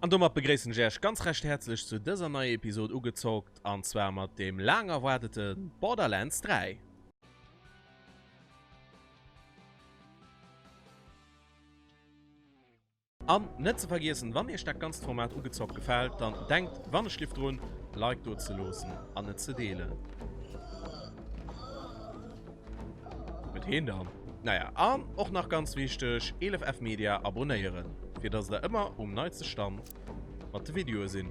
An domat begréissen ech äerch ganz recht häerzlech zu dëser neier Episode Ugezockt an zwar mat dem laang erwaardeten Borderlands 3. An net ze vergiessen, wann iech dat ganzt Format ugezockt gefält, dann denkt wannechlift drun Like do ze loossen an et ze deelen. Huet heen dann? Naja, an och nach ganz wichteg, elefv media abonéieren fir dass der ëmmer um neitste Stand mat de Videoe sidd.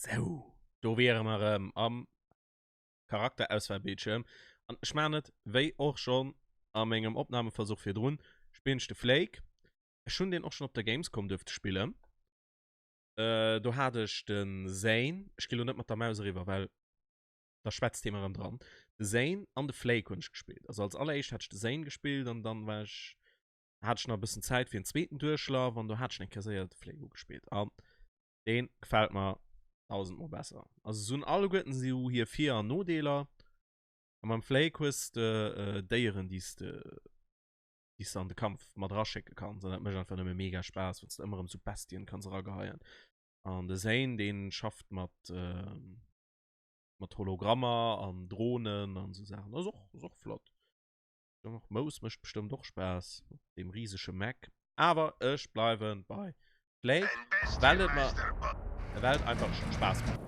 Sou, do wiere mer erëm am Charakterauswahlbildschirm. An ech maachen et wéi och schonn a mengem Opnahmeversuch virdrun, spillen ech de Flake. Ech hunn deen och schonn op der Gamescom duerfte spillen. Do hat ech de Zane, ech ginn elo net mat der Maus eriwwer, well da schwätzt hie mer erëm dran, de Zane an de Flake hunn ech gespillt. Also als alleréischt hat ech de Zane gespillt an dann war ech, hat ech nach e bëssen Zäit fir en zweeten Duerchlaf an do hat ech nach eng Kéier séier de Flake ugespillt. A Deen gefällt mer dausend mol besser. Also se hunn alleguerten sou hir Vir an Nodeeler. A mam Flake hues de Déieren déi's de déi's de an de Kampf mat eraschécke kanns an dat mécht einfach nëmme mega Spaass wanns de ëmmer erëm sou Bestien kanns erageheien. An de Zane dee schafft mat mat Hologrammer an Dronen an sou Saachen. Ass och ass och flott. Mous mécht bestëmmt och Spaass op deem risege Mac, awer ech bleiwe bei Flake, well et mer ewell et einfach scho Spaass mécht.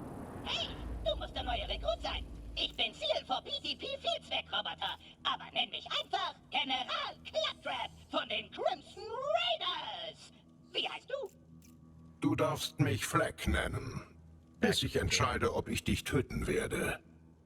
Hey, du muss de neie Rekrut sein! Ich bin Ziel vor PCP Vielzweckroboter, aber nenn mich einfach General Claptrap von den Crimson Raiders! Wie heisst du? Du darfst mich Flake nennen, bis ich entscheide, ob ich dich töten werde.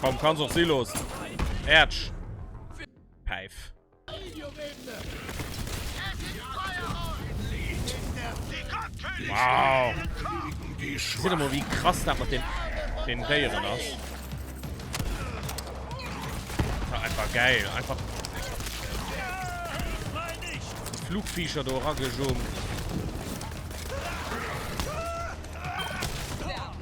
Komm, kann's och si loossen. Äertsch. Päif. Wow. Seht ihr mal, wie krass das mit den, den Deieren ist. Das ist einfach geil. Einfach Flugviecher da rangejumpt.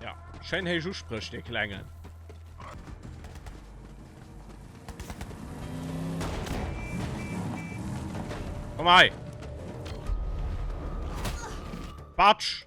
Ja, schein héich Uspréch, de Klengen. Komm hei. Batsch.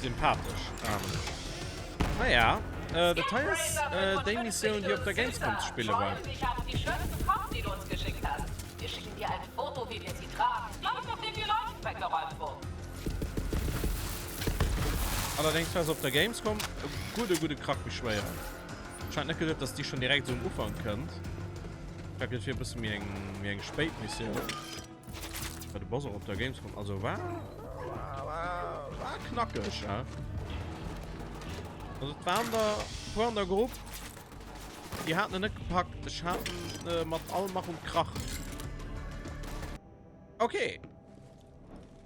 Sympathesch. Naja, ah dat hei ass déi Missioun, déi op der Gamescom ze spille war. Allerdéngs war se op der Gamescom e gudde gudde Krack méi schwéier. Ech hat net geduet, datt déi schonn direkt esou um Ufank kënnt. Dat gëtt fir e bësse méi eng spéit Missioun. War de Bass och op der Gamescom? Also war, war, war, war knackeg, ja. Also war an der, war an der Gruppe. Die hatten ihn nicht gepackt. Ich hatte äh, mit allem Mach und Krach. Okay.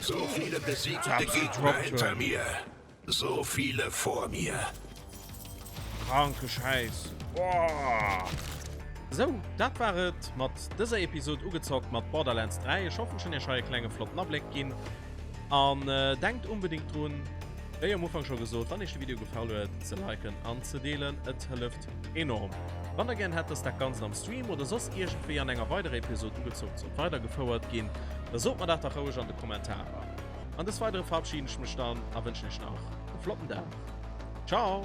So viele besiegte Gegner hinter mir, so viele vor mir. Kranke Schäiss! Boah! Sou, dat war et mat dëser Episod Ugezockt mat Borderlands 3. Ech hoffen, ech hunn iech hei e klenge flotten Abléck ginn. An denkt unbedéngt drun, wéi am Ufank scho gesot, wann iech de Video gefall huet, ze liken an ze deelen. Et hëlleft Enorm! Wann der gären hätt dass dat ganzt am Stream oder soss iergendwéi an enger weiderer Episode ugezoomt sollt weider gefouert ginn, da sot mer dat dach roueg an de Kommentarer! An des weidere verabschieden ech mech dann a wënschen iech nach e flotten Dag! Ciao!